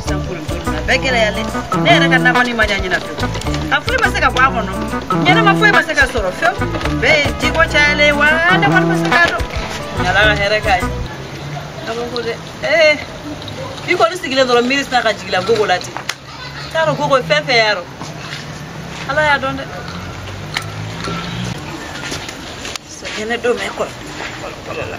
sisan furu ko nin na bɛɛ gɛlɛyalen ne yɛrɛ ka nakɔnin ma ɲa ɲinan fewu a foyi ma se ka bɔ a kɔnɔ ɲɛnama foyi ma se ka sɔrɔ fewu bɛɛ ye jiko cayalen wa ne kɔni ma se k'a dɔn ala ka hɛrɛ k'a ye a ko ko dɛ ee i kɔni sigilen dɔrɔn miiri sinna ka jigila gogo la ten n t'a dɔn gogo ye fɛn fɛn y'a dɔn ala y'a dɔn dɛ sɛgɛnɛ don mɛ kɔlɔ kɔlɔ kɔlɔ la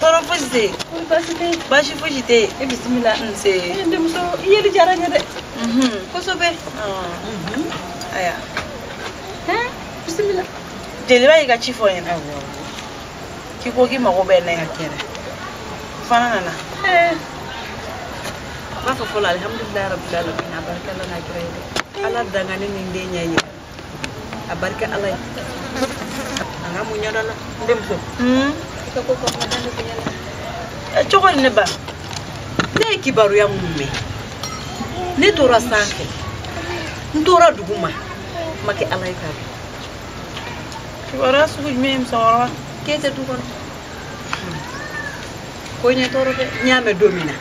tɔɔrɔ fosi tɛ yen kɔni baasi tɛ yen baasi fosi tɛ yen e bisimila nse e denmuso i yeli diyara n ye dɛ kosɛbɛ ayiwa bisimila jeliba y'i ka ci fɔ n ɲɛna k'i ko k'i mago bɛ n na n yɛrɛ fana nana n b'a fɔ fɔlɔ alihamudulilayi rabilalamin a barika ala n'a kira ye dɛ ala dangani ni den ɲɛ ye a barika ala ye a ka mun ɲɛdɔn na n denmuso i ka ko kɔnɔ da ne ko yɛlɛ ɛ cogo di ne ba ne ye kibaruya minnu mɛn ne tora sanfɛ n tora dugu ma n ma kɛ ala ye k'a dɔn kibaruya sugu jumɛn ye musokɔrɔba k'e tɛ du kɔnɔ ko ye ne tɔɔrɔ dɛ n y'a mɛn don min na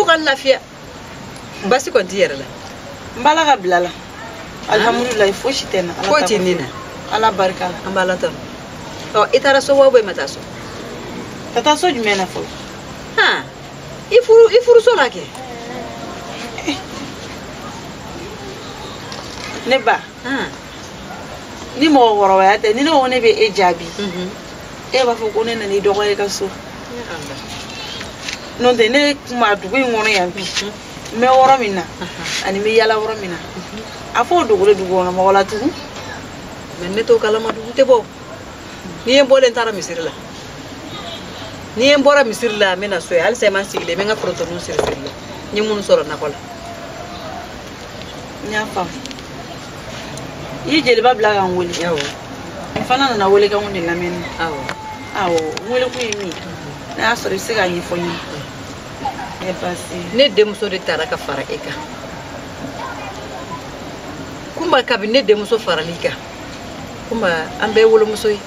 fo ka lafiya baasi kɔni t'i yɛrɛ la n b'a la ka bila la alihamudulilayi fosi tɛ n na foyi tɛ ne na ala barika la an b'ala tanu ɔ i taara so wa i ma taa so ka taa so jumɛn na fɔlɔ i furu i furuso la kɛ ne ba hmm. ni mɔgɔkɔrɔbaya tɛ ni ne ko ne bɛ e jaabi mhm. e b'a fɔ ko ne nana i dɔgɔya i ka so n'o tɛ ne tun bɛ dugu in kɔnɔ yan bi mhm. n bɛ yɔrɔ min na ani n bɛ yala yɔrɔ min na mhm. a fɔ o dogo de dugu kɔnɔ mɔgɔ la tugun mɛ ne t'o kalama n dun tɛ bɔ n'i ye n bɔlen taara misiri la n'i ye n bɔra misiri la n bɛ na so ye halisa i ma n sigilen n bɛ n ka forotoniw siri siri la n ye minnu sɔrɔ nakɔ la n y'a faamu i ye jeliba bila ka n wele n fana nana welekanw de lamɛnni awɔ awɔ n welekun ye min ye n'a y'a sɔrɔ i bɛ se k'a ɲɛfɔ n ye baasi ne denmuso de taara ka fara e kan kunba kabini ne denmuso faral'i kan kunba an bɛɛ wolomuso ye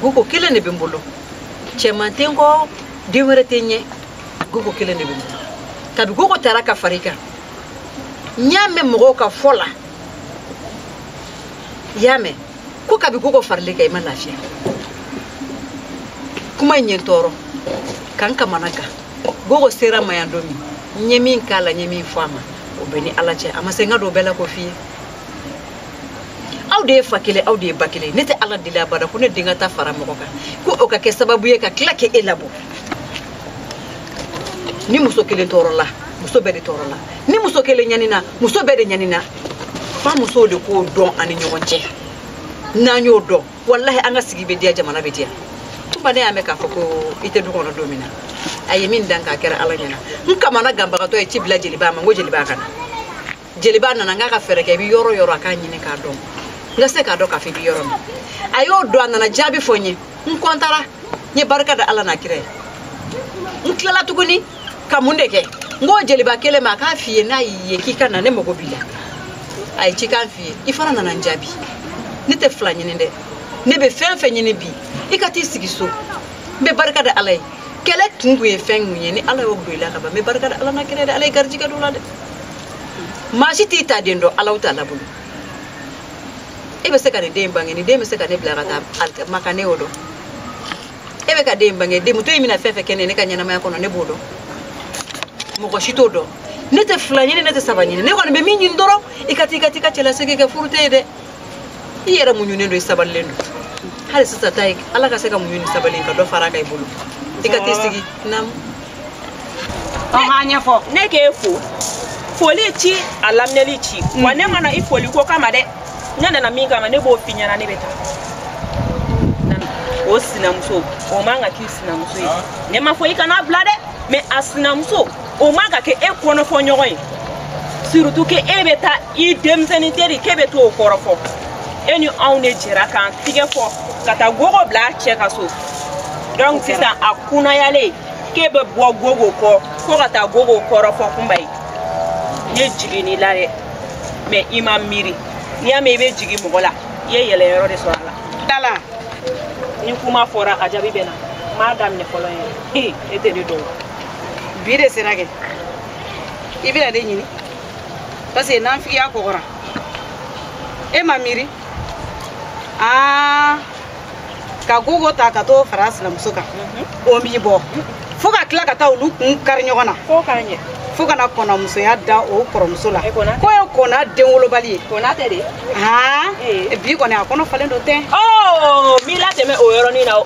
gogo kelen de bɛ n bolo cɛman tɛ n kɔ den wɛrɛ tɛ n ɲɛ gogo kelen de bɛ muta kabi gogo taara ka far'i kan n y'a mɛn mɔgɔw ka fɔ la i y'a mɛn ko kabi gogo faral'i kan i ma lafiya kuma in ye n tɔɔrɔ ka n kamanagan gogo sera n ma yan don min n ye min k'a la n ye min fɔ a ma o bɛ n ni ala cɛ a ma se n ka don bɛɛ la ko f'i ye aw de ye fa kelen aw de ye ba kelen ne tɛ ala deli abada ko ne den ka taa fara mɔgɔ kan ko o ka kɛ sababu ye ka tila k'e labɔ ni muso kelen tɔɔrɔla muso bɛɛ de tɔɔrɔla ni muso kelen ɲanina muso bɛɛ de ɲanina fo musow de k'o dɔn an ni ɲɔgɔn cɛ n'an y'o dɔn walahi an ka sigi bɛ diya jamana bɛ diya kunba ne y'a mɛn k'a fɔ ko i tɛ du kɔnɔ don min na a ye min dan k'a kɛra ala ɲɛna n kamanaganbagatɔ ye ci bila jeliba ma n ko jeliba ka na jeliba nana n k'a ka fɛɛrɛ kɛ i bɛ yɔrɔ yɔrɔ a k'a ɲini k'a dɔn n ka se k'a dɔn k'a fɔ i bɛ yɔrɔ min a y'o dɔn a nana jaabi fɔ n ye n kɔntara n ye barika da ala n'a kira ye n tilala tuguni ka mun de kɛ n k'o jeliba kelen ma a k'a f'i ye n'a y'i ye k'i ka na ne mago b'i la a ye cikan f'i ye i fana nana n jaabi ne tɛ fila ɲini dɛ ne bɛ fɛn fɛn ɲini bi i ka t'i sigi so n bɛ barika da ala ye kɛlɛ kun kun ye fɛn kun ye ni ala y'o don i la ka ban n bɛ barika da ala n'a kira ye dɛ ala ye garijigɛ don o la dɛ maa si t'i ta den dɔn alaw t'a labolo e bɛ se ka nin den bange nin den bɛ se ka ne bila ka taa maka ne y'o dɔn e bɛ ka den bange denmuso in bɛna fɛn fɛn kɛ ne ne ka ɲɛnamaya kɔnɔ ne b'o dɔn mɔgɔ si t'o dɔn ne tɛ fila ɲini ne tɛ saba ɲini ne kɔni bɛ min ɲini dɔrɔn i ka taa i ka taa i ka cɛlasigi kɛ furu tɛ ye dɛ i yɛrɛ muɲunen don i sabalilen don hali sisan ta ye ala ka se ka muɲu ni sabali ka dɔ fara a kan i bolo i ka t'i sigi naamu an ɲɛfɔ ne k'e fo foli ci a laminɛli ci wa mm. ne ma na i foli ko kama dɛ ne nana min kama ne b'o f'i ɲɛna ne bɛ taa o sinamuso o man ka k'i sinamuso ye ne ma fɔ i kana bila dɛ mais a sinamuso o man ka kɛ e kɔnɔfɔɲɔgɔn ye surtout que e bɛ taa i denmisɛnnin teri k'e bɛ to o kɔrɔfɔ e ni anw de jɛra k'an tigɛ fo ka taa gogo bila a cɛ ka so donc sisan a kunnayalen k'e bɛ bɔ gogo kɔ fo ka taa gogo kɔrɔfɔ kunba ye ne jiginn'i la dɛ mais i ma miiri n'i y'a mɛn i bɛ jigin mɔgɔ la i ye yɛlɛnyɔrɔ de sɔrɔ a la dala ni kuma fɔra a jaabi bɛ na n b'a daminɛ fɔlɔ ye e tɛ ne dɔn bi de sera kɛ i bɛ ne de ɲini parce que nafigiya kɔgɔra e ma miiri aa ka gogo ta ka t'o fara sinamuso kan o m'i bɔ fo ka tila ka taa olu kun kari ɲɔgɔn na fo k'a ɲɛ fo ka na kɔnamusoya da o kɔrɔmuso la k'o ye kɔna denwolobali ye kɔna tɛ de aa bi kɔni a kɔnɔ falen don ten n b'i latɛmɛ o yɔrɔnin na o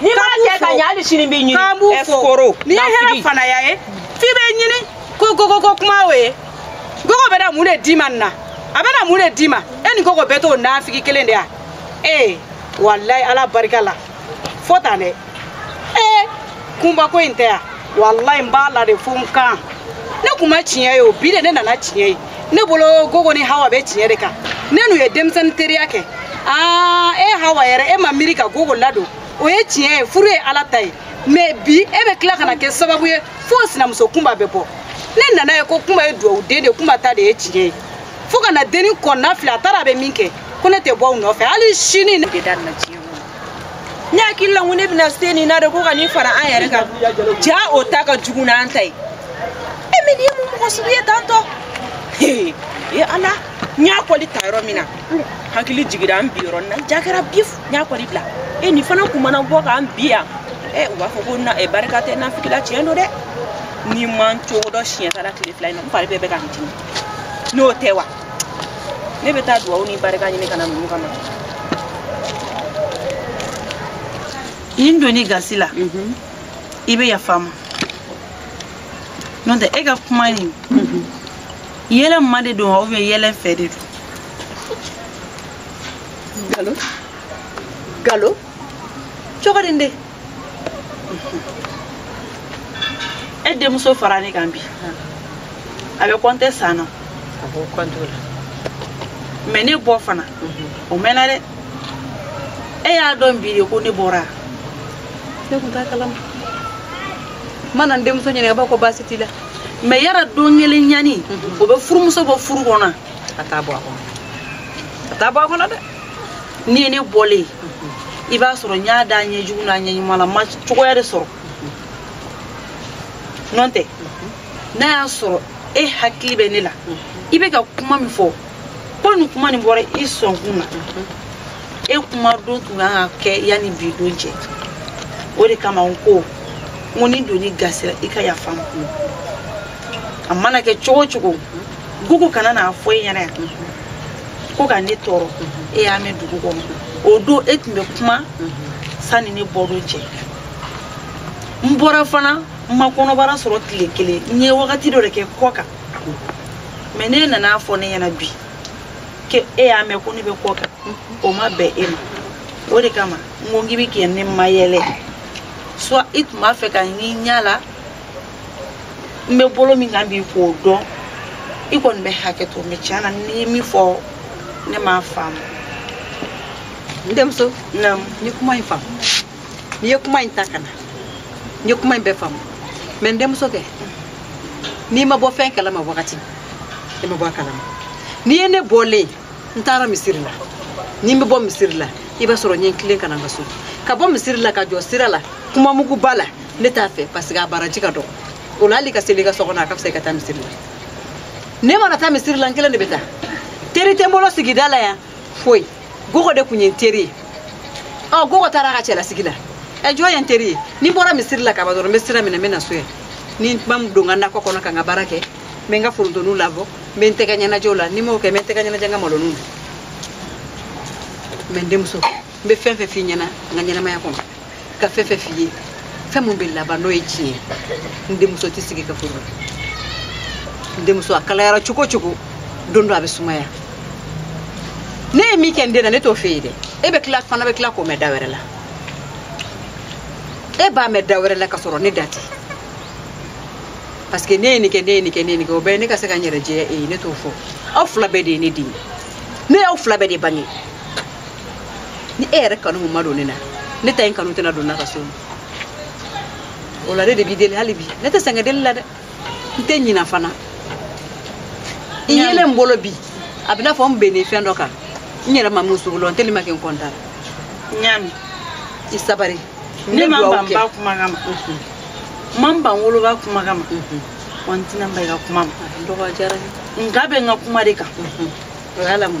n'i m'a kɛ ka ɲɛ hali sini b'i ɲini k'an b'u fo n'i ye hɛrɛ fanaya ye f'i b'a ɲini ko gogoko kuma o ye gogo bɛ na mun de d'i ma nin na a bɛ na mun de d'i ma e ni gogo bɛɛ t'o nafigi kelen de ya ee walayi ala barika la fo tan dɛ ee kunba ko in tɛ yan walayi n b'a la de fo n kan ne kuma tiɲɛ ye o bi de ne nana tiɲɛ ye ne bolo gogo ni hawa bɛ tiɲɛ de kan ne n'u ye denmisɛnnin teriya kɛ aa e hawa yɛrɛ e ma miiri ka gogo ladon o ye tiɲɛ ye furu ye ala ta ye mɛ bi e bɛ tila ka na kɛ sababu ye fo o sinamuso kunba bɛ bɔ ne nana a ye ko kunba ye duwawu den de kunba ta de ye tiɲɛ ye fo ka na dennin kɔnɔnafili a taara a bɛ min kɛ ko ne tɛ bɔ u nɔfɛ hali sini ne bɛ da na tiɲɛ ne hakili la ko ne bɛna se nin na de ko ka nin fara an yɛrɛ kan jaa o ta ka jugu n'an ta ye e mɛ nin ye mun mɔgɔ sugu ye tan tɔ ee ala n y'a kɔli ta yɔrɔ min na hakili jigira an bi yɔrɔ nin na ja kɛra bi n y'a kɔli bila e nin fana kun mana bɔ k'an bi yan ɛ u b'a fɔ ko na barika tɛ naafigi la tiɲɛ don dɛ n'i ma n cogo dɔn siɲɛ sara tile fila in na n fari bɛɛ bɛ ka n dimi n'o tɛ wa ne bɛ taa duwawu ni barika ɲini ka na ninnu kama ni n donna i gasi la mhm. i bɛ yafa n ma n'o tɛ e ka kuma nin mhm. yɛlɛ n ma de don wa ubiyɛn yɛlɛ n fɛ de don galo galo cogo di n den e denmuso fara ne kan bi a bɛ kɔnte san nɔ mɛ ne bɔ fana mhm. o mɛnna dɛ e y'a dɔn bi de ko ne bɔra e tun t'a kalama n mana n denmuso ɲininka i b'a ko baasi t'i la mɛ yala don kelen ɲani mhm. o bɛ furumuso bɔ furu kɔnɔ a t'a bɔ a kɔnɔ a t'a bɔ a kɔnɔ dɛ n'i ye ne bɔlen ye i b'a sɔrɔ n y'a da a ɲɛ jugu n'a ɲɛ ɲuman la n ma cogoya de sɔrɔ n'o tɛ n'a y'a sɔrɔ e hakili bɛ ne la i bɛ ka kuma min fɔ ko ni kuma nin bɔra i sɔnkun na e kuma don tun kan ka kɛ yanni bi don cɛ o de kama n ko n ko ni n donna i gasi la i ka yafa n ma a mana kɛ cogo cogo gogo kana na a fɔ e ɲɛna yan ko ka ne tɔɔrɔ e y'a mɛn dugu kɔnɔ o don e tun bɛ kuma sanni ne bɔdon cɛ n bɔra fana n ma kɔnɔbara sɔrɔ tile kelen n ye wagati dɔ de kɛ kɔkan mɛ n'e nana a fɔ ne ɲɛna bi ke e y'a mɛn ko ne bɛ kɔkan o ma bɛn e ma o de kama n ko n k'i bɛ ka ne mayɛlɛ soit i tun b'a fɛ ka n k'i ɲɛ la n bɛ bolo min kan bi k'o dɔn i kɔni bɛ hakɛ to mɛ tiɲɛ na n'i ye min fɔ ne m'a faamu n denmuso naamu n ye kuma in faamu n'i ye kuma in ta ka na n ye kuma in bɛɛ faamu mɛ n denmuso kɛ n'i ma bɔ fɛn kalama wagati i ma bɔ a kalama n'i ye ne bɔlen n taara misiri la ni n bɛ bɔ misiri la i b'a sɔrɔ n ye n tilen ka na n ka so ka bɔ misiri la ka jɔ sira la kumamuguba la ne t'a fɛ parce que a baraji ka dɔgɔ o la hali ka seli i ka so kɔnɔ a ka fisa i ka taa misiri la ne mana taa misiri la n kelen de bɛ taa teri tɛ n bolo sigida la yan foyi gogo de tun ye n teri ye ɔ gogo taara a ka cɛlasigi la ɛ jɔn ye n teri ye ni n bɔra misiri la ka ban dɔrɔn n bɛ sira minɛ n bɛ na so yan ni n kun ma don n ka nakɔ kɔnɔ ka n ka baara kɛ n bɛ n ka forontoninw labɔ n bɛ n tɛgɛ ɲɛnajɛ u la ni n m'o kɛ n bɛ n tɛgɛ ɲɛnajɛ n ka maloninw na mɛ n denmuso n bɛ fɛn fɛn f'i ɲɛna n ka ɲɛnamaya kɔnɔ ka fɛn fɛn f'i ye fɛn min bɛ laban n'o ye tiɲɛ ye n denmuso t'i sigi ka furu n denmuso a kalayara cogo cogo don dɔ a bɛ sumaya ne ye min kɛ n den na ne t'o f'i ye dɛ e bɛ tila fana bɛ tila k'o mɛn da wɛrɛ la e b'a mɛn da wɛrɛ la ka sɔrɔ ne da tɛ parce que ne ye nin kɛ ne ye nin kɛ ne ye nin kɛ o bɛɛ ye ne ka se ka n yɛrɛ jɛya e ye ne t'o fɔ aw fila bɛɛ de ye ne den ye ne y'aw fila bɛɛ de bange ni e yɛrɛ kanu kun ma don ne na ne ta in kanu tɛna don na ka so o la ne de b'i deli hali bi ne tɛ sɛgɛn deli la dɛ n tɛ ɲina fana i yelen n bolo bi a bɛ n'a fɔ n bɛnnen fɛn dɔ kan n yɛrɛ ma min sugu lɔn n teli ma kɛ n kɔntara ɲaami i sabari ne ma ban ba kumakan ma n ma n ban woloba kumakan ma wa n tɛna n ban i ka kuma ma dɔgɔ diyara n ye nka bɛ n ka kuma de kan o y'a lamu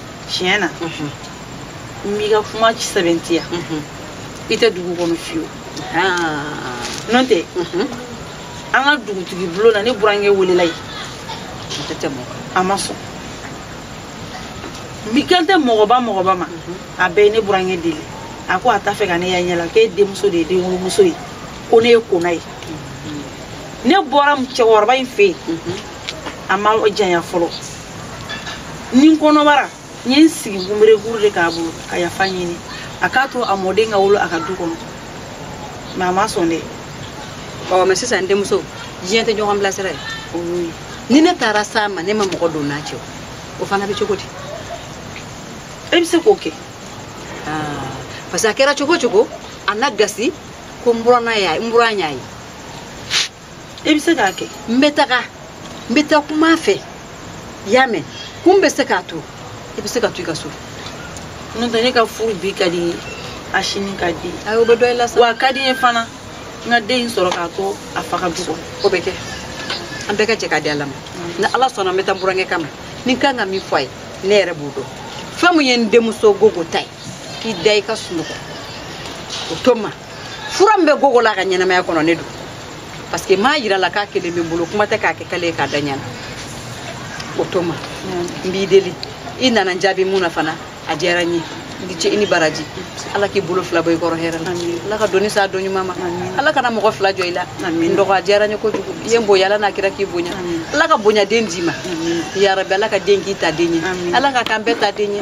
tiɲɛ na n b'i ka kuma sɛbɛntiya i tɛ dugu kɔnɔ fiyewu n'o tɛ an ka dugutigi bulon na ne burankɛ welela ye a ma sɔn n kan tɛ mɔgɔba mɔgɔba ma a bɛɛ ye ne burankɛ deli a ko a t'a fɛ ka ne y'a ɲɛ la k'e denmuso de ye denwolomuso ye ko ne ye kona ye ne bɔra cɛkɔrɔba in fɛ yen a ma janya fɔlɔ ni n kɔnɔbara n ye n sigi kunberekuru de k'a bolo ka yafa ɲini a k'a to a mɔden ka wolo a ka du kɔnɔ mɛ a ma sɔn dɛ ɔ mɛ sisan n denmuso diɲɛ tɛ ɲɔgɔn bilasira ye o y'o ye ni ne taara s'a ma ne ma mɔgɔ don n n'a cɛ o fana bɛ cogo di e bɛ se k'o kɛ ah, parce que a kɛra cogo cogo a na gasi ko n buran y'a ye n buran y'a ye i bɛ se k'a kɛ n bɛ taga n bɛ taa kuma a fɛ i y'a mɛn kun bɛ se k'a to i bɛ se ka to i ka so n'o tɛ ne ka furu bi ka di a sini ka di ayi o bɛ dɔ i la sa wa a ka di n ye fana n ka den in sɔrɔ k'a to a fa ka du kɔnɔ o bɛ kɛ an bɛɛ ka jɛ k'a di ala ma ni ala sɔnna n bɛ taa n burankɛ kama ni n kan ka min fɔ a ye ne yɛrɛ b'o dɔn fɛn min ye n denmuso gogo ta ye i da i ka sunɔgɔ o to n ma fura min bɛ gogo la ka ɲɛnamaya kɔnɔ ne don parce que m'a yira a la k'a kelen bɛ n bolo kuma tɛ k'a kɛ kale ye k'a da ɲa na o tuma n b'i deli i nana n jaabi min na fana a diyara n ye i ni ce i ni baraji ala k'i bolo fila bɔ i kɔrɔ hɛrɛ la ala ka doni sa don ɲuman ma ala kana mɔgɔ fila jɔ i la n dɔgɔ a diyara n ye kojugu i ye n bonya ala n'a kira k'i bonya ala ka bonyaden d'i ma yarabi ala ka den k'i ta den ye ala k'a k'an bɛɛ ta den ye